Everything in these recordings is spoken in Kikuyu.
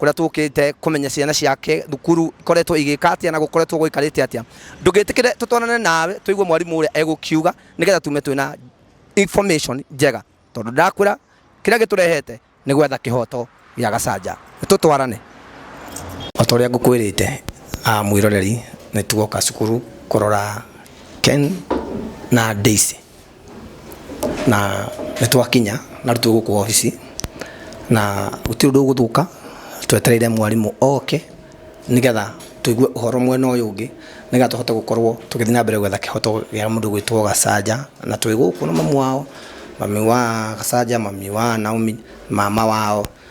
kũrĩa tũkĩte kũmenya ciana ciake thukuru ikoretwo igĩka atia na gũkoretwo gũikarĩte atia ndũngĩtĩkĩre tũtwarane nawe tũigue mwarimũ ũrĩa egũkiuga nĩgetha tume twĩna information njega tondũ ndakwĩra kĩrĩa gĩtũrehete nĩ gwetha kĩhoto gĩa gacanja tũtwarane o ta ũrĩa ngũkwĩrĩte ah, mwĩroreri nĩ tugoka cukuru kũrora ken na daisy Na nĩ twakinya na rĩu twĩ gũkũ obici na gũtirĩ ũndũ ũgũthũka twetereire mwarimũ oke nĩgetha tũigue ũhoro mwena ũyũ ũngĩ nĩgetha tũhote gũkorwo tũgĩthiĩ na mbere gwetha kĩhoto gĩa mũndũ ũgwĩtwo Gacanja. Na twĩ gũkũ na mamu wao, mami wa Gacanja, mami wa Naomi, mama wao.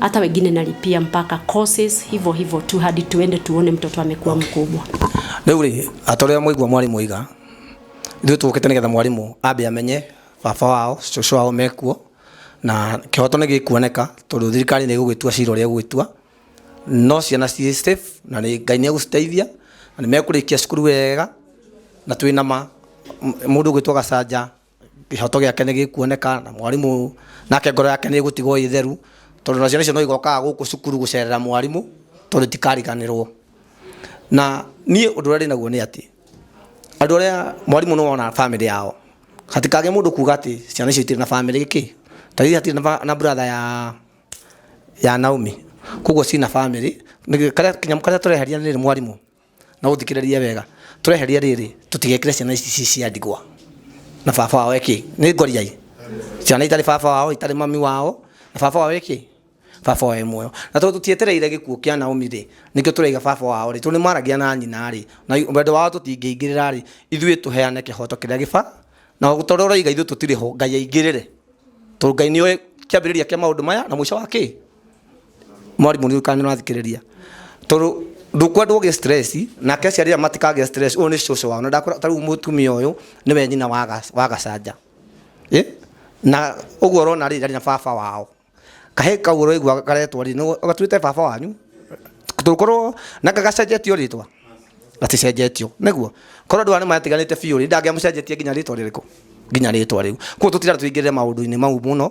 hata wengine nalipia mpaka courses hivyo hivyo tu hadi tuende tuone mtoto amekuwa mkubwa. Rĩu rĩ atorĩa mwaigua mwarimũ iga ithuĩ tũkĩte nĩgetha mwarimũ ambe amenye baba wao cũcũ wao mekuo na kĩhoto nĩ gĩkuoneka tondũ thirikari nĩ ĩgũgĩtua cira ũrĩa ĩgũgĩtua no ciana ciĩ safe na nĩ ngai nĩ egũciteithia na nĩ mekũrĩkia cukuru wega na twĩ na ma m- mũndũ ũgwĩtwo gacanja kĩhoto gĩake nĩ gĩkuoneka na mwarimũ nake ngoro yake nĩ ĩgũtigwo ĩ theru tondũ na ciana icio no igokaga gũkũ cukuru gũcerera mwarimũ tondũ itikariganĩrwo na niĩ ũndũ ũrĩa ndĩ naguo nĩ atĩ andũ arĩa mwarimũ nĩ wona famĩlĩ yao hatikage mũndũ kuga atĩ ciana icio itirĩ na famĩlĩ kĩ ta ithuĩ hatirĩ na ba- na brother ya ya Naomi koguo ciĩ na famĩlĩ Nĩ- karĩa- kĩnyamũ karĩa tũreheria nĩ rĩrĩ mwarimũ na ũthikĩrĩrie wega tũreheria rĩrĩ tũtigekĩre ciana ici ci cia ndigwa na baba wao eki nĩ ngoriai ciana itarĩ baba wao itarĩ mami wao na baba wao eki baba wao e muoyo na tondũ tũtietereire gĩkuũ kĩa Naomi rĩ nĩkĩo tũraiga baba wao rĩ tondũ nĩmaragia na nyina rĩ na wendo wao tũtingĩingĩrĩra rĩ ithuĩ tũheane kĩhoto kĩrĩa gĩba na tondũ ũraiga ithuĩ tũtirĩ ho Ngai aingĩrĩre tondũ Ngai nĩoĩ kĩambĩrĩria kĩa maũndũ maya na mũico wa kĩ Mwarimũ rĩu kana nĩ ũrathikĩrĩria? Tondũ ndũkwendwo ũgĩe stress, nake aciari aya matikagĩa stress, ũyũ nĩ cũcũ wao. Na ndakora ta rĩu mũtumia ũyũ nĩwe nyina wa wa Gacanja. Ĩ, na ũguo ũrona rĩ, ndarĩ na baba wao. Kahĩĩ kau ũraigua karetwo rĩ, gatwĩte baba wanyu? Tũngĩkorwo, na kaĩ gacenjetie o rĩtwa? Gaticenjetie o, nĩguo? Korwo andũ aya nĩ matiganĩte biũ rĩ, ndangĩamũcenjetia nginya rĩtwa rĩrĩkũ? Nginya rĩtwa rĩu. Kũguo tũtirenda tũingĩrĩre maũndũ-inĩ mau mũno,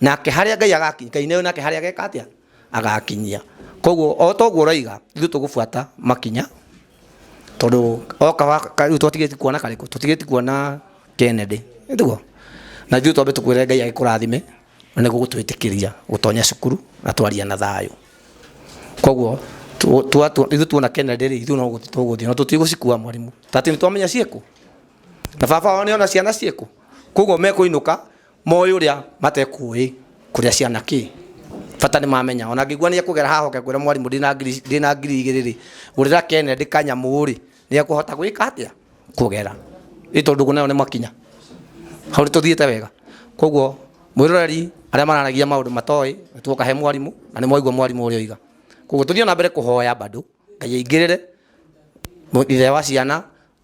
nake harĩa ngai agakinyia ngai nayo nake harĩa ageka atĩa agakinyia koguo o toguo ũroiga ithuĩ tũgũbuata makinya tondũ oka wa- ka- rĩu twatigĩti kuona karĩkũ tũtigĩti kuona kennedy nĩguo na ithuĩ twambe tũkwĩre ngai agĩkũrathime na nĩguo gũtwĩtĩkĩria gũtonya cukuru na twaria na thayũ koguo tu- tua- tu- ithuĩ tuona kennedy rĩ ithuĩ no gũthiĩ tũgũthiĩ na tũtigũcikua mwarimũ tatĩ nĩ twamenya ciĩkũ na baba wao nĩona ciana ciĩkũ koguo mekũinũka moĩ ũrĩa matekũĩ kũrĩa ciana kĩ bata nĩ mamenya ona ngĩgua nĩ ekũgera haha oke kwĩra mwarimũ ndĩna ngiri- ndĩna ngiri igĩrĩ rĩ gũrĩra kennedy kanyamũ rĩ nĩ ekũhota gwĩka atĩa kũgera ĩ tondũ ndũgũ nayo nĩ makinya hau nĩ tũthiĩte wega koguo mwĩroreri arĩa mararagia maũndũ matoĩ tuoka he mwarimũ na nĩ mwaigua mwarimũ ũrĩa oiga koguo tũthiĩ na mbere kũhoya bado ngai aingĩrĩre ithe wa ciana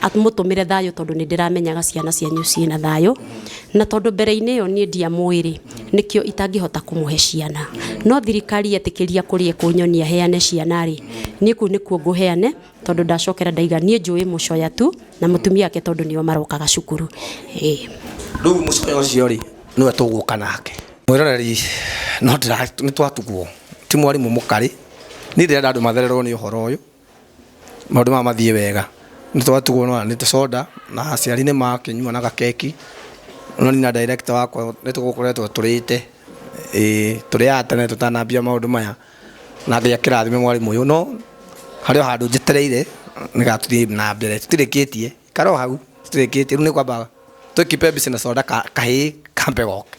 amũtũmĩre thayũ tondũ nĩ ndĩramenyaga ciana cianyu ciĩ na thayũ, na tondũ mbere-inĩ ĩyo niĩ ndiamũĩ-rĩ, nĩkĩo itangĩhota kũmũhe ciana. No thirikari yetĩkĩria kũrĩ ĩkũnyonia heane ciana-rĩ, niĩ kũu nĩkuo ngũheane tondũ ndacokera ndaiga. Niĩ njũĩ mũcoya tu na mũtumia wake tondũ nĩo marokaga cukuru. Ĩĩ. Rĩu mũcoya ũcio-rĩ, nĩwe tũgũka nake. Mwĩroreri, no ndĩra, nĩ twatugwo. Ti mwarimũ mũkarĩ. Niĩ ndĩrenda andũ mathererwo nĩ ũhoro ũyũ. maũndũ maya mathiĩ wega nĩ twatugwo na nĩ tũconda na aciari nĩ makĩnyua na gakeki no niĩ na director wakwa nĩ tũgũkoretwo tũrĩte ĩĩ tũrĩaga tene tũtanambia maũndũ maya na Ngai akĩrathime mwarimũ ũyũ no harĩ o handũ njetereire nĩ getha tũthiĩ na mbere tũtirĩkĩtie ikara o hau tũtirĩkĩtie rĩu nĩ kwamba twĩ keep busy na soda kahĩĩ kambe goke.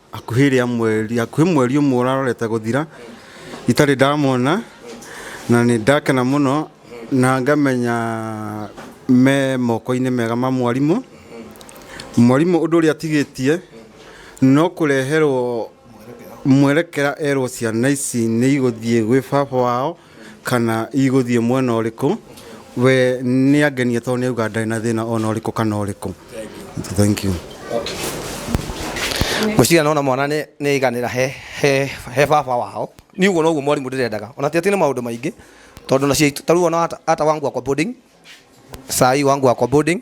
hakuhĩ rĩa mweri hakuhĩ mweri ũmwe ũrarorete gũthira itarĩ ndamona na nĩ ndakena mũno na ngamenya me moko-inĩ mega ma mwarimũ mwarimũ ũndũ ũrĩa atigĩtie no kũreherwo mwerekera erwo ciana ici nĩ igũthiĩ gwĩ baba wao kana igũthiĩ mwena ũrĩkũ we nĩ angenia tondũ nĩ auga ndarĩ na thĩna ona ũrĩkũ kana ũrĩkũ thank you ngwĩciria nona mwana nĩ nĩ aiganĩra he he he baba wao nĩ ũguo noguo mwarimũ ndĩrendaga ona ti atĩ nĩ maũndũ maingĩ tondũ na ciaitũ ta rĩu ona ata ata wangu akwa boarding sai wangu akwa boarding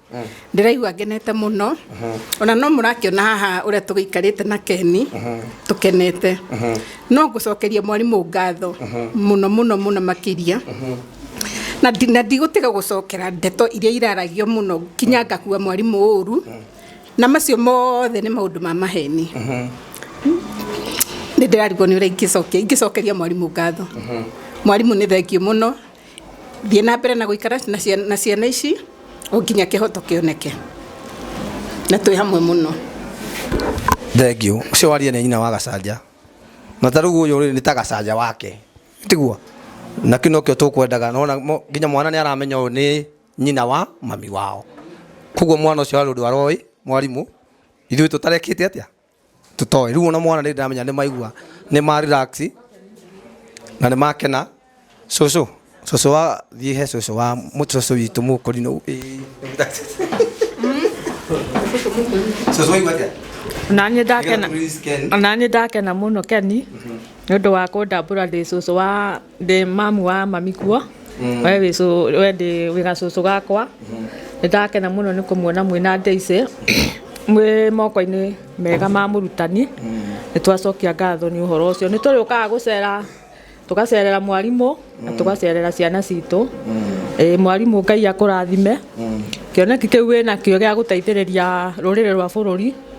ndĩraigua ngenete mũno ona no mũrakĩona haha ũrĩa tũgĩikarĩte na keni tũkenete no ngũcokeria mwarimũ ngatho mũno mũno mũno makĩria na ndi- na ndigũtiga gũcokera ndeto iria iraragio mũno nginya ngakua mwarimũ ũru na macio mothe nĩ maũndũ ma maheni nĩ ndĩrarigwo nĩ ũrĩa ingĩcokia ingĩcokeria mwarimũ ngatho mwarimũ nĩ thengiũ mũno Thiĩ na mbere na gũikara na ciana ici o nginya kĩhoto kĩoneke. Na twĩ hamwe mũno. Thengiũ. Ũcio waria nĩ nyina wa Gacanja. Na ta rĩu ũyũ rĩ nĩ ta Gacanja wake. Tiguo? Na kĩu nokĩo tũkwendaga. Nĩ wona nginya mwana nĩ aramenya ũyũ nĩ nyina wa mami wao. Kwoguo mwana ũcio arĩ ũndũ aroĩ mwarimũ, ithuĩ tũtarekĩte atĩa? tũtoĩ rĩu ona mwana rĩrĩ ndĩramenya nĩ maigua nĩ ma relax na nĩ makena cũcũ cũcũ wa thiĩ he cũcũ wa mũ- cũcũ witũ mũkũri no cũcũ waigua atĩa naniä ndakena Nĩgetha tũrĩscan. naniä ndakena må no keni nä å ndå wa kå ndambå ra ndä cåcå wa ndĩ mamu wa mami kuo we wĩ cũ- we ndĩ wĩ gacũcũ gakwa nĩ ndakena mũno nĩ kũmuona mwĩna ndĩicĩ mwĩ moko-inĩ mega ma mũrutani nĩ twacokia ngatho nĩ ũhoro ũcio nĩ tũrĩũkaga gũcera tũgacerera mwarimũ na tũgacerera ciana citũ Ĩĩ, mwarimũ ngai akũrathime kĩoneki kĩu wĩnakĩo gĩa gũteithĩrĩria rũrĩrĩ rwa bũrũri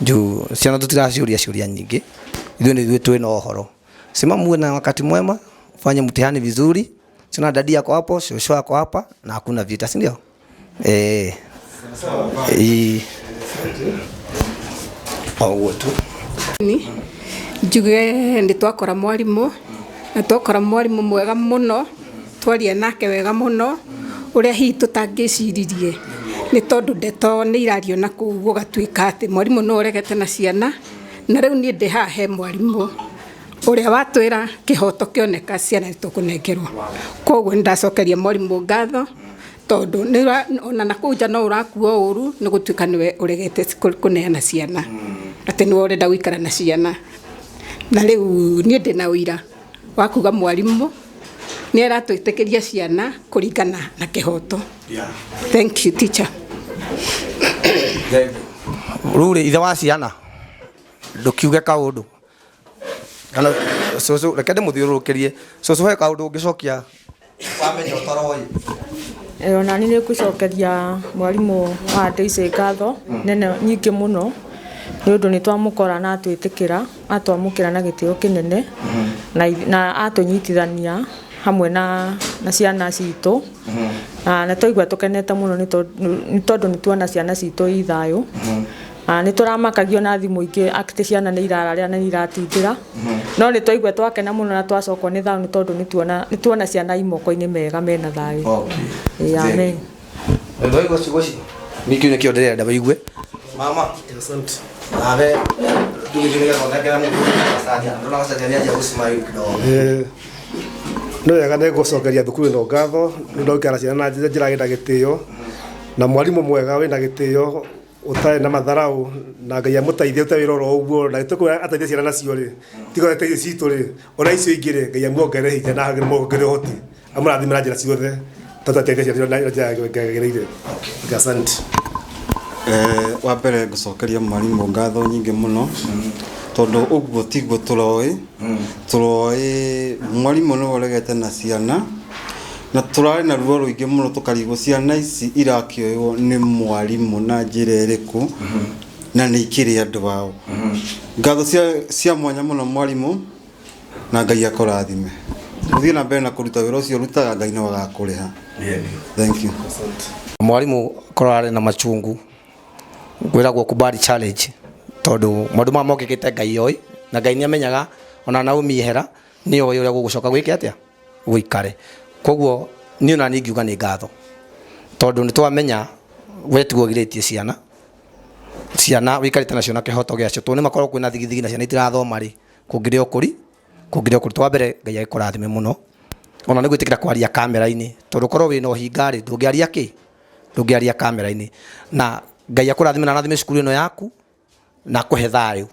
juu ciana tutiraciuria ciuria nyingi ithuĩ nĩ ithuĩ twĩ na ũhoro sema muwe na wakati mwema fanye mtihani vizuri sina dadi yako hapo shosho yako hapa na hakuna vita si ndio eh eh au tu ni njuge nĩ twakora mwarimũ na twakora mwarimũ mwega mũno Twaria nake wega mũno ũrĩa hihi tũtangĩciririe nĩ tondũ ndeto nĩ irario na kũu gũgatuĩka atĩ mwarimũ nĩwe ũregete na ciana, na rĩu niĩ ndĩ haha he mwarimũ ũrĩa watwĩra kĩhoto kĩoneka ciana nĩ tũkũnengerwo. Kwoguo nĩ ndacokeria mwarimũ ngatho tondũ ona na kũu nja no ũrakuo ũru nĩ gũtuĩka nĩwe ũregete kũneana ciana, atĩ nĩwe ũrenda gũikara na ciana. Na rĩu niĩ ndĩ na ũira. wa kuga mwarimũ nĩ aratwĩtĩkĩria ciana kũringana na kĩhoto thank you teacher rä ithe wa ciana ndũkiuge kaũndũ kana cũcũ reke ndĩmũthiũrũrũkĩrie cũcũ he kaũndũ ũngĩcokia wamenya ũtaroĩ Eh, ona nĩ nĩngũcokeria mwarimũ wa ndĩici ngatho nene nyingĩ mũno nĩ ũndũ nĩ twamũkora na atwĩtĩkĩra atwamũkĩra na gĩtĩo kĩnene na ith- na atũnyitithania hamwe na na ciana citũ na nĩ twaigua tũkenete mũno nĩ tondũ- nĩ tondũ nĩ tuona ciana citũ i thayũ Ah, nĩ tũramakagio na thimũ ingĩ atĩ ciana nĩ irararĩra na nĩ iratindĩra no nĩ twaigua twakena mũno na twacokwo nĩ thayũ nĩ tondũ nĩ tuona- nĩ tuona ciana i moko-inĩ mega mena thayũ Okay. Ĩĩ, amen. Thank you. Waigua ciugo icio? Nĩ kĩu nĩkĩo ndĩrenda waigue. Mama. Nawe ndũgĩthiĩ nĩgetha ũthekere mũndũ ũgacaria. Ndũrona gacaria nĩ anjia gũsmile kidogo. Eh, nĩ wega nĩ gũcokeria thukuru ĩno ngatho nĩ ũndũ wa gũikara na ciana na njĩra njĩra ĩna gĩtĩo na mwarimũ mwega wĩna gĩtĩo utarä na matharaå na ngai amũteithie rute wä ra oro å guo na gä tå kå ateithia ciana nacio rä tiga ateithia citå rä ona icio ingä rä ngai amuongerere hinya na amuongerere hoti amũrathime na njä ra ciothe tondå ateithia ciana na njä ra ngagä rä ire asante Eh, wa mbere ngũcokeria mwarimũ ngatho nyingĩ mũno tondũ ũguo tiguo tũroĩ tũroĩ mwarimũ nĩ ũregete na ciana Na tũrarĩ na ruo rũingĩ mũno tũkarigwo ciana ici irakĩoywo nĩ mwarimũ na njĩra ĩrĩkũ na nĩ ikĩrĩ andũ ao. Ngatho cia- cia mwanya mũno mwarimũ na Ngai akũrathime. Ũthiĩ na mbere na kũruta wĩra ũcio ũrutaga Ngai nĩ agakũrĩha. Thank you. mwarimũ korwo ararĩ na macungu kwĩragwo kubali challenge tondũ maũndũ maya mokĩkĩte ngai oĩ na ngai nĩamenyaga ona naomi ehera nĩoĩ ũrĩa gũgũcoka gwĩke atĩa gũikare koguo niĩ nani ngiuga nĩ ngatho tondũ nĩ twamenya we tiwe ũgirĩtie ciana ciana wĩkarĩte nacio na kĩhoto gĩacio tondũ nĩ makorwo kwĩna thigithigi na ciana itirathoma rĩ kũngĩrĩ ũkũri kũngĩrĩ ũkũri twa mbere ngai agĩkũrathime mũno ona nĩ gwĩtĩkĩra kwaria kamera-inĩ tondũ korwo wĩna ũhinga rĩ ndũngĩaria kĩ ndũngĩaria kamera-inĩ na ngai akũrathime na arathime cukuru ĩno yaku na kũhe thayũ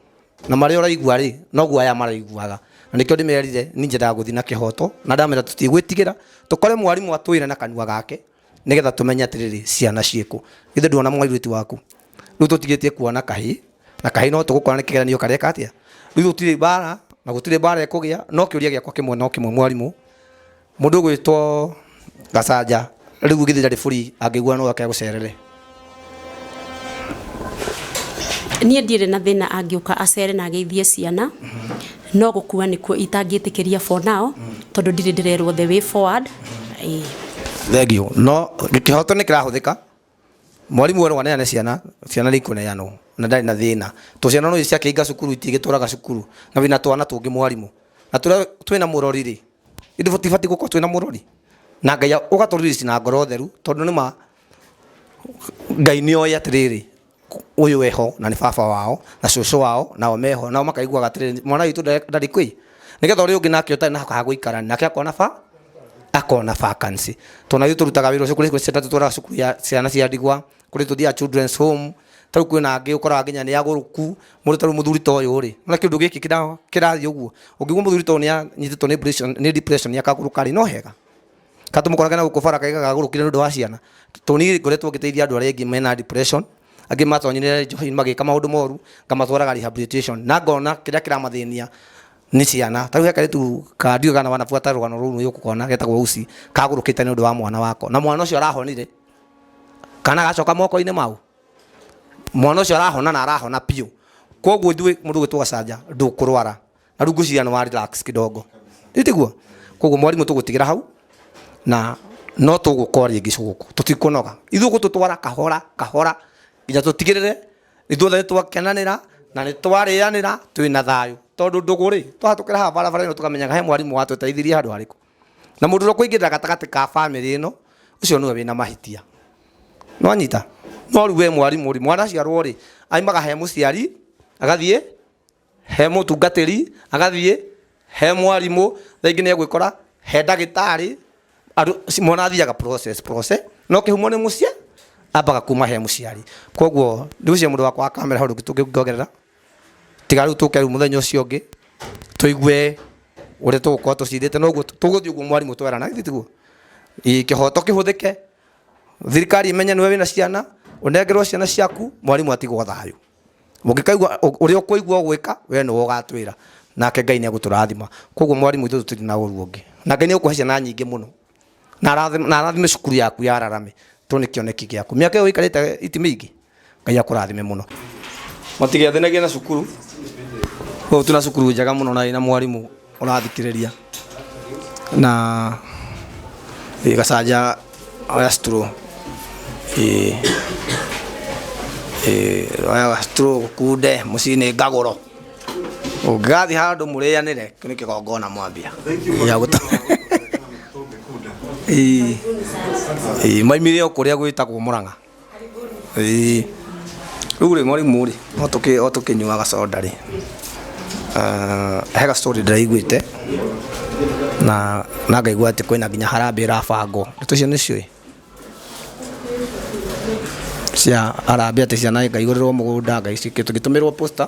na marĩa ũraigua rĩ noguo aya maraiguaga na nĩkĩo ndĩmerire niĩ nyendaga gũthiĩ na kĩhoto na ndamera tũtigwĩtigĩra tũkore mwarimũ atwĩre na kanua gake nĩgetha tũmenye atĩrĩrĩ ciana ciĩkũ githĩ ndwona mwairĩtu waku rĩu tũtigĩtie kuona kahĩ na kahĩ no tũgũkora nĩ kĩgeranio kareka atĩa rĩu gũtirĩ mbara na gũtirĩ mbara ĩkũgĩa no kĩũria gĩakwa kĩmwe no kĩmwe mwarimũ Mũndũ ũgwĩtwo Gacanja rĩu githĩ ndarĩ bũri angĩgua no ake agũcerere. Niĩ ndirĩ na thĩna angĩũka acere na ageithie ciana, no gũkua nĩkuo itangĩtĩkĩria for now tondũ ndirĩ ndĩrerwo the way forward. Ĩĩ. Thengiũ. No kĩhoto nĩ kĩrahũthĩka. Mwarimũ erwo aneane ciana, ciana nĩikũneanwo na ndarĩ na thĩna. To ciana no ithiĩ ciakĩinga cukuru itingĩtũraga cukuru na wĩna twana tũngĩ mwarimũ. Na tũrĩa twĩna mũrori rĩ, githĩ tũtibatiĩ gũkorwo twĩna mũrori? Na Ngai ũgatũ release na ngoro theru tondũ nĩma Ngai nĩoĩ atĩrĩrĩ, ũyũ wĩ ho na nĩ baba wao na cũcũ wao nao me ho nao makaiguaga atĩrĩrĩ mwana witũ nda- ndarĩ kwĩ nĩgetha ũrĩa ũngĩ nake ũtarĩ na ha gũikara nake akona ba akona vacancy tondũ naithuĩ tũrutaga wĩra ũcio kũrĩ kũrĩ ciana tũtwaraga cukuru ya ciana cia ndigwa kũrĩ tũthiaga children's home tarĩu kwĩna angĩ ũkoraga nginya nĩ agũrũku mũndũ tarĩu mũthuri ta ũyũ rĩ ona kĩndũ gĩkĩ kĩra- kĩrathiĩ ũguo ũngĩigua mũthuri ta ũyũ nĩ anyitĩtwo nĩ pressure- nĩ depression akagũrũka rĩ no hega ka tumukorage na guku bara kaiga gagurukire nundu wa ciana tuni ngoretwo ngiteithia andu aria ingi mena depression angi matonyire njohi magika maundu moru ngamatwaraga rehabilitation na ngona kiria kiramathinia ni ciana tariu heka ritu ka ndiuga kana wanafuata rugano ruru ni ukukona getagwo usi kagurukite nundu wa mwana wako na mwana ucio arahonire kana gacoka moko-inĩ mau mwana ũcio arahona na arahona biũ koguo ithuĩ mũndũ gwĩtwo gacanja ndũkũrwara na rä u ngwĩciria nĩ wa relax kidogo itiguo koguo mwarimũ tũgũtigĩra hau na no tũgũkora rĩngĩ cũgũkũ tũtikũnoga ithuĩ gũtũtwara kahora kahora nginya tũtigĩrĩre ithuothe nĩ twakenanĩra na nĩ twarĩanĩra twĩ na thayũ tondũ ndũgũ rĩ twahatũkĩra haha barabara ĩno tũkamenyaga he mwarimũ watũteithirie handũ harĩkũ na mũndũ ũrĩa ũkũingĩrĩra gatagatĩ ka bamĩrĩ ĩno ũcio nĩwe wĩna mahĩtia nwanyita no rĩu we mwarimũ rĩ mwana aciarwo rĩ aimaga he mũciari agathiĩ he mũtungatĩri agathiĩ he mwarimũ thaa ingĩ nĩ egwĩkora he ndagĩtarĩ andũ ci- mwana athiaga process process no kĩhumo nĩ mũciĩ ambaga kuma he mũciari koguo ndĩgucia mũndũ wakwa wa kamera hau rĩngĩ tũngĩongerera tiga rĩu tũke rĩu mũthenya ũcio ũngĩ tũigue ũrĩa tũgũkorwo tũcirĩte noguo tũgũthiĩ ũguo mwarimũ twerana githĩ tiguo Ĩ, kĩhoto kĩhũthĩke thirikari ĩmenye nĩwe wĩna ciana ũnengerwo ciana ciaku mwarimũ atigwo thayũ mũngĩkaigua ũrĩa ũkũigua ũgwĩka we nĩwe ũgatwĩra nake ngai nĩ egũtũrathima koguo mwarimũ itũ tũtirĩ na ũru ũngĩ na ngai nĩ egũkũhe ciana nyingĩ mũno na arathime- na arathime cukuru yaku ya ararame tondũ nĩ kĩoneki gĩaku mĩaka ĩyo ũikarĩte iti mĩingĩ ngai akũrathime mũno mũtigethĩnagia na cukuru ũyũ tuna cukuru njega mũno na ĩna mwarimũ ũrathikĩrĩria na ĩ gacanja oya stro ĩ ĩ oya stro gũkunde mũciinĩ ngagũro ũngĩgathiĩ handũ mũrĩanĩre kĩu nĩ kĩgongona mwambia gĩa gũta Ĩ, ĩ, maimire o kũrĩa gwĩtagwo mũrang'a Ĩĩ. Rĩu rĩ mwarimũ rĩ, o tũkĩ o tũkĩnyuaga soda rĩ, he ga story ndĩraiguĩte, na na ngaigua atĩ kwĩna nginya harambee ĩrabangwo. Ndeto icio nĩciũĩ? Cia harambee atĩ ciana ngaigũrĩrwo mũgũnda, ngagĩtũmĩrwo poster.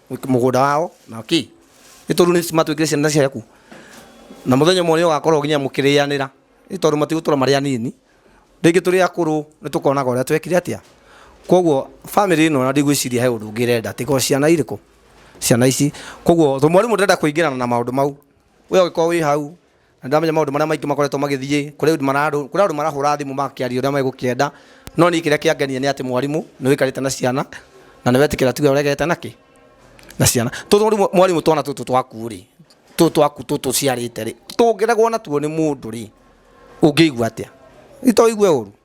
mũgũnda wao na kĩ nĩ tondũ nĩ matwĩkire ciana ciaku na mũthenya ũmwe nĩ ũgakorwo nginya mũkĩrĩanĩra nĩ tondũ matigũtũra marĩ anini rĩngĩ tũrĩ akũrũ nĩ tũkonaga ũrĩa twekire atĩa koguo family ĩno na ndigwĩciria he ũndũ ũngĩ ĩrenda tiga o ciana irĩkũ ciana ici koguo to mwarimũ ndarenda kũingĩrana na maũndũ mau we ũngĩkorwo wĩ hau Na ndamenya maũndũ marĩa maingĩ makoretwo magĩthiĩ kũrĩ ũndũ mararũ- kũrĩ andũ marahũra thimũ makĩaria ũrĩa megũkĩenda. No niĩ kĩrĩa kĩangenirie nĩ atĩ mwarimũ nĩ ũikarĩte na ciana na nĩ wetĩkĩra tuge ũregete na kĩ? Na ciana. Tondũ rĩu mwarimũ twana tũtũ twaku rĩ, tũtũ twaku tũtũ ũciarĩte rĩ, tũngĩregwo natuo nĩ mũndũ rĩ, ũngĩigua atĩa? Githĩ to ũigue ũũru?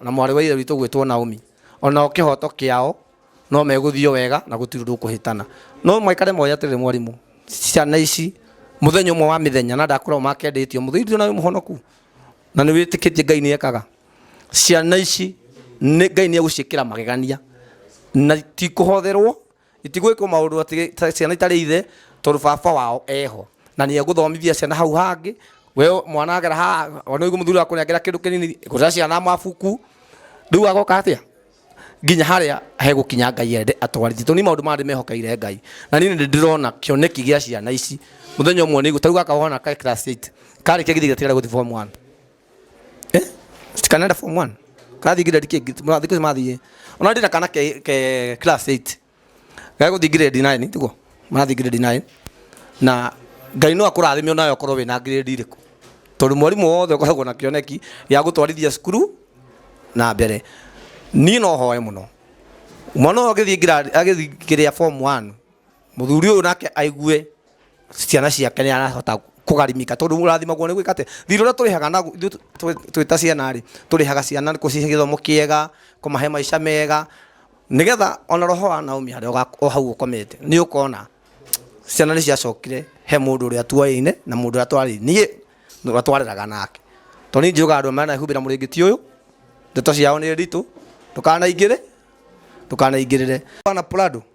na mwarĩ wa ithe witũ gwĩtwo Naomi onao kĩhoto kĩao no megũthio wega na gũtirĩ ũndũ ũkũhĩtana no maikare moya atĩrĩrĩ mwarimũ ciana ici mũthenya ũmwe wa mĩthenya na ndakorwo makendĩtio mũthĩitio nawe mũhonoku na nĩ wĩtĩkĩtie ngai nĩ ekaga ciana ici nĩ ngai nĩ egũciĩkĩra magegania na tikũhotherwo Itigwĩkwo maũndũ atĩ ta ciana itarĩ ithe tondũ baba wao eho na nĩ egũthomithia ciana hau hangĩ. We mwana agera haha ona ũigua mũthuri akũnengera kĩndũ kĩnini gũrĩra ciana mabuku, rĩu agoka atĩa nginya harĩa hegũkinya Ngai ende atwarithie. Tondũ niĩ maũndũ maya ndĩmehokeire Ngai na niĩ nĩ ndĩrona kĩoneki gĩa ciana ici mũthenya ũmwe nĩ igũ, ta rĩu gaka ũhana ke class eight karĩkia githĩ gatigaire gũthiĩ form one? eh tikanaenda form 1 kathi grade ke murathi ke mathi ona ndina kana ke, ke class 8 gago thi grade 9 tiko murathi grade 9 na ngai no akurathime onayo korwo wina grade iriku tondu mwarimu wothe ukoragwo na kioneki ya gutwarithia cukuru na mbere niĩ no hoe mũno mwana ũyũ agĩthiĩ grade- agĩthiĩ kĩrĩa form 1 Mũthuri ũyũ nake aigue ciana ciake nĩ arahota kũgarimika tondũ ũrathimagwo nĩ gwĩka atĩ thirĩ ũrĩa tũrĩhaga naguo ithuĩ twĩ- twĩ ta ciana rĩ tũrĩhaga ciana gũcihe gĩthomo kĩega kũmahe maica mega nĩgetha ona roho wa Naomi harĩa ũga- o hau ũkomete nĩ ũkona ciana nĩ ciacokire he mũndũ ũrĩa tuoyaine na mũndũ ũrĩa twarĩ niĩ na ũrĩa twareraga nake tondũ niĩ njugaga andũ aya manahumbĩra mũrĩngĩti ũyũ ndeto ciao nĩ nditũ ndũkanaingĩre ndũkanaingĩrĩre bana Prado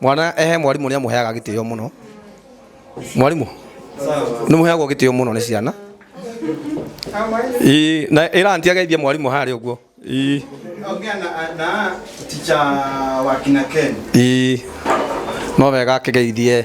mwana ehe mwarimũ nĩ amũheaga gĩtĩo mũno mwarimũ nĩ mũheagwo gĩtĩo mũno nĩ ciana Ii, na ĩra anti ageithie mwarimũ harĩ ũguo Ii, Ongea na, na ticha wa kina Ken. ii, no wega akĩgeithie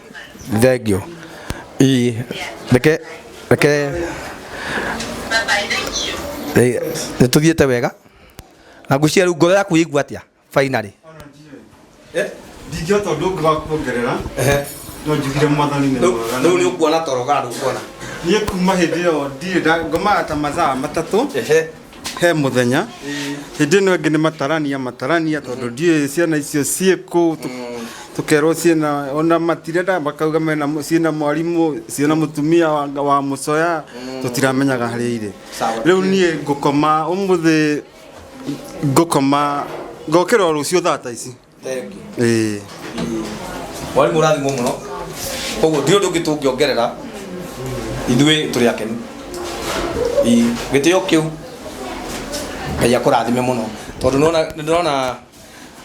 thengiũ ii reke reke nä tå thiä te wega na ngwä rä u ngoro yaku igua atä a fainarä ndingĩhota ũndũ ũngĩ wa kuongerera no njugire mwathani nĩ mwega rä u nä å kuona toro kana ndå kuona niĩ kuma hĩndĩ ĩyo ndirĩ nda- ngomaga ta mathaa matatũ he muthenya hindi ino ingi ni matarania matarania tondu ndiuĩ ciana icio ciĩ kũ tukerwo ciĩna ona matirenda makauga mena mu- ciĩna mwarimũ ciĩna mutumia wa, wa mucoya tutiramenyaga harĩa irĩ Sawa. riu niĩ ngũkoma umuthi ngũkoma ngokĩra o rũciũ thaa ta ici Thank you. ĩĩ mwarimũ ũrathimwo mũno koguo ndirĩ ũndũ ũngĩ tũngĩongerera ithuĩ tũrĩ akenu Ii, gĩtĩo kĩu ngai akũrathime mũno tondũ nĩwona- nĩndĩrona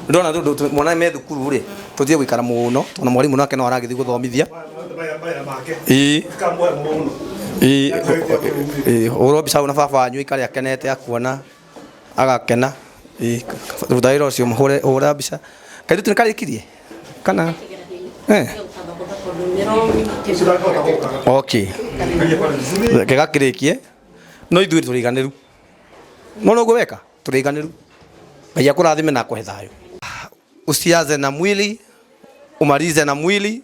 ndĩrona rĩu ndũ- mwana me thukuru rĩ tũtige gũikara mũno tondũ mwarimũ nake no aragĩthiĩ gũthomithia Ii. Ii, ũ- ũ- ũ- ũ- ũhũrwo mbica hau na baba wanyu aikare akenete akuona agakena ĩ, thutha wĩra ũcio mũhũre hũra mbica kairĩtu nĩ karĩkirie kana eh. okay reke gakĩrĩkie no ithuĩ tũrĩ iganĩru mona ũguo weka tũrĩ iganĩru ngai akũrathime na akũhe thayũ usianze na mwili umalize na mwili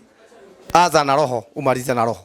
anza na roho umalize na roho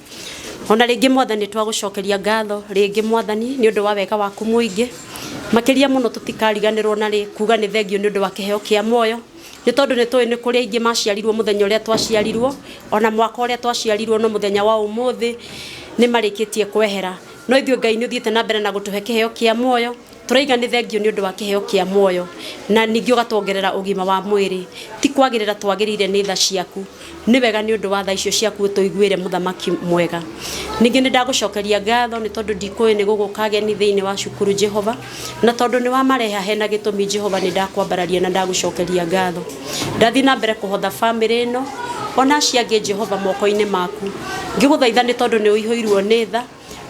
ona rĩngĩ mwathani twagũcokeria ngatho rĩngĩ mwathani nĩ ũndũ wa wega waku mũingĩ makĩria mũno tũtikariganĩrwo na rĩ kuga nĩ thengio nĩ ũndũ wa kĩheo kĩa muoyo nĩ tondũ nĩ tũĩ nĩ kũrĩ aingĩ maciarirwo mũthenya ũrĩa twaciarirwo ona mwaka ũrĩa twaciarirwo no mũthenya wa ũmũthĩ nĩ marĩkĩtie kwehera no ithuĩ ngai nĩ ũthiĩte na mbere na gũtũhe kĩheo kĩa muoyo Tũraiga nĩ thengio nĩ ũndũ wa kĩheo kĩa muoyo na ningĩ ũgatwongerera ũgima wa mwĩrĩ. Ti kwagĩrĩra twagĩrĩire nĩ tha ciaku. Nĩ wega nĩ ũndũ wa tha icio ciaku ũtũiguĩre Mũthamaki mwega. Ningĩ nĩ ndagũcokeria ngatho nĩ tondũ ndikũĩ nĩ gũgũka ageni thĩinĩ wa cukuru Jehova. Na tondũ nĩ wamareha hena gĩtũmi Jehova nĩ ndakwambararia na ndagũcokeria ngatho. Ndathiĩ na mbere kũhotha famĩlĩ ĩno ona aciangĩ Jehova moko-inĩ maku. Ngĩgũthaitha nĩ tondũ nĩ ũihũirwo nĩ tha.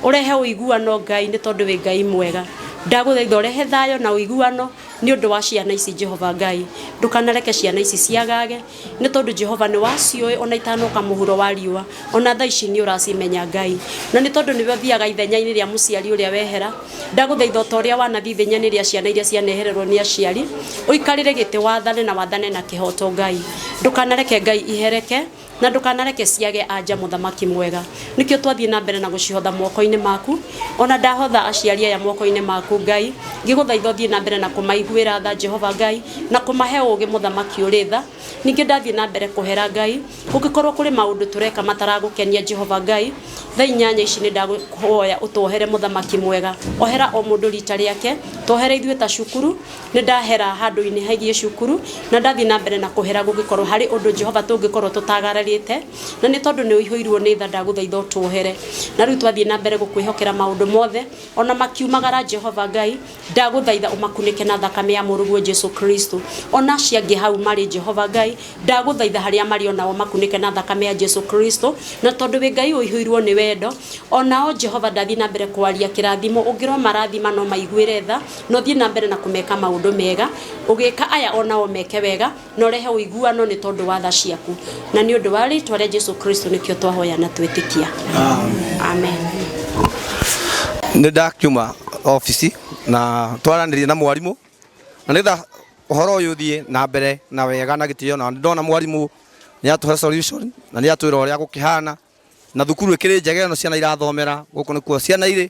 ũrehe ũiguano Ngai nĩ tondũ wĩ Ngai mwega ndagũthaitha ũrehe thayũ na ũiguano nĩ ũndũ wa ciana ici Jehova Ngai ndũkanareke ciana ici ciagage nĩ tondũ Jehova nĩ waciũĩ ona itanoka mũhuro wa riũa ona thaa ici nĩ ũracimenya Ngai na nĩ tondũ nĩwe ũthiaga ithenyainĩ rĩa mũciari ũrĩa wehera ndagũthaitha ta ũrĩa wanathiĩ ithenyainĩ rĩa ciana iria cianehererwo nĩ aciari ũikarĩre gĩtĩ wathane na wathane na kĩhoto Ngai ndũkanareke Ngai ihereke Na ndũkanareke ciage anja mũthamaki mwega. Nĩkĩo twathiĩ na mbere na gũcihotha moko-inĩ maku. O na ndahotha aciari aya moko-inĩ maku, Ngai, ngĩgũthaitha ũthiĩ na mbere na kũmaiguĩra tha, Jehova Ngai, na kũmahe ũũgĩ mũthamaki ũrĩ tha. Ningĩ ndathiĩ na mbere kũhera, Ngai, kũngĩkorũo kũrĩ maũndũ tũreka mataragũkenia, Jehova Ngai, tha inyanya ici nĩ ndakũhoya ũtwohere mũthamaki mwega. Ohera o mũndũ riita rĩake. Twohere ithuĩ ta cukuru. Nĩ ndahera handũ-inĩ hegiĩ cukuru, na ndathiĩ na mbere na kũhera gũngĩkorũo harĩ ũndũ Jehova tũngĩkorũo tũtagararĩte, na nĩ tondũ nĩ ũihũirũo nĩ tha ndagũthaitha ũtũohere. Na rĩu twathiĩ na mbere gũkwĩhokera maũndũ mothe, o na makiumagara Jehova Ngai, ndagũthaitha ũmakunĩke na thakame ya mũrũguo Jesu Kristo. O na acio angĩ hau marĩ Jehova Ngai, ndagũthaitha harĩa marĩ o na o ũmakunĩke na thakame ya Jesu Kristo, na tondũ wĩ Ngai ũihũirũo nĩ wendo, o na o Jehova ndathiĩ na mbere kwaria kĩrathimo ũngĩrũmarathima no maiguĩre tha, No thiĩ na mbere na kũmeka maũndũ mega, ũgĩka aya o nao meke wega, na ũrehe ũiguano nĩ tondũ wa tha ciaku. Na nĩ ũndũ wa rĩĩtwa rĩa Jesu Kristo nĩkĩo twahoya na twĩtĩkia. Amen. nä ndakiuma obici na twaranä na mwarimå na nä getha å horo å yå thiä na mbere na wega na gä tä o na nä ndona mwarimå nä atå he na nä atwä ra å rä a gå kä hana na thukuru ä kä rä njega ä no ciana irathomera gå kå nä kuo ciana irä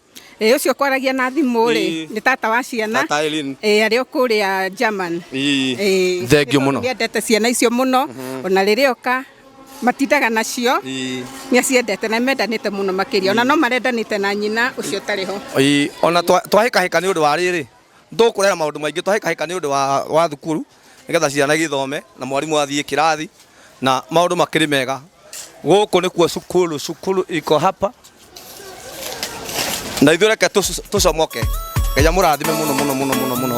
Ĩ ũcio kwaragia na thimũ rĩ Ĩĩ. nĩ tata wa ciana Tata Eileen. ĩ arĩ o kũrĩa German Ii. Ĩĩ. Thengiũ mũno. Nĩ endete ciana icio mũno ona rĩrĩa oka matindaga nacio Ii. nĩ aciendete na mendanĩte mũno makĩria ona no marendanĩte na nyina ũcio ũtarĩ ho Ii, ona twa- twahĩkahĩka nĩ ũndũ wa rĩrĩ tũkũrera maũndũ maingĩ twahĩkahĩka nĩ ũndũ wa, wa thukuru nĩgetha ciana gĩthome na mwarimũ athiĩ kĩrathi na maũndũ makĩrĩ mega gũkũ nĩkuo cukuru cukuru iko hapa na ithuĩ reke tũcu- tũcomoke ngai amũrathime mũno mũno mũno mũno mũno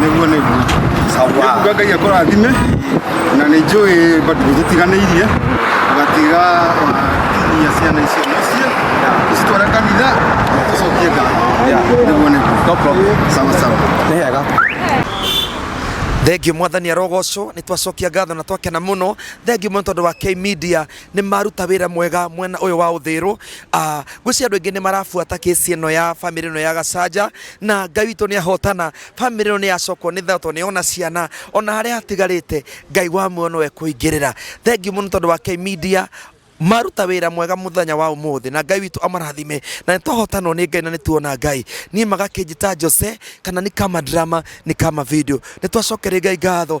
nĩguo nĩguo sawa kuga ngai akũrathime na nĩ njũĩ bado tũtiganĩirie ũgatiga wakinyia ciana icio mũciĩ ũcitware kanitha ũcokie ngatho Yeah. nĩguo nĩguo No problem. sawa sawa nĩ hega thengiå mwathani arogocwo nä twacokia ngatho na twakena må no thengiå må no tondå wa K media nĩ maruta wĩra mwega mwena ũyũ wa ũthĩrũ Ah, ngwĩciria andũ aingĩ nĩ marabuata kĩsi ĩno ya bamĩrĩ ĩno ya gacanja na ngai witũ nĩ ahotana bamĩrĩ ĩno nĩ yacokwo nĩ thayũ tondũ nĩ yona ciana ona harĩa hatigarĩte ngai wa muoyo nĩwe kũingĩrĩra thengiũ mũno tondũ wa K media maruta wĩra mwega mũthenya wa ũmũthĩ na ngai witũ amarathime na nĩ twahotanwo nĩ ngai na nĩ tuona ngai niĩ magakĩnjĩta jose kana nĩ kama drama nĩ kama video nĩ twacokeria ngai ngatho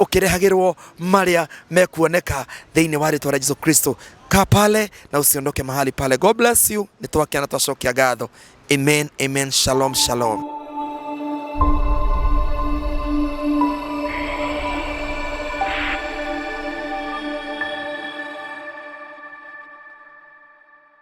ũkĩrehagĩrwo marĩa mekuoneka thĩinĩ wa rĩtwa rĩa Jesu Kristo. Kaa pale na usiondoke mahali pale. God bless you. Nĩ twakena twacokia ngatho. Amen, amen. Shalom, shalom.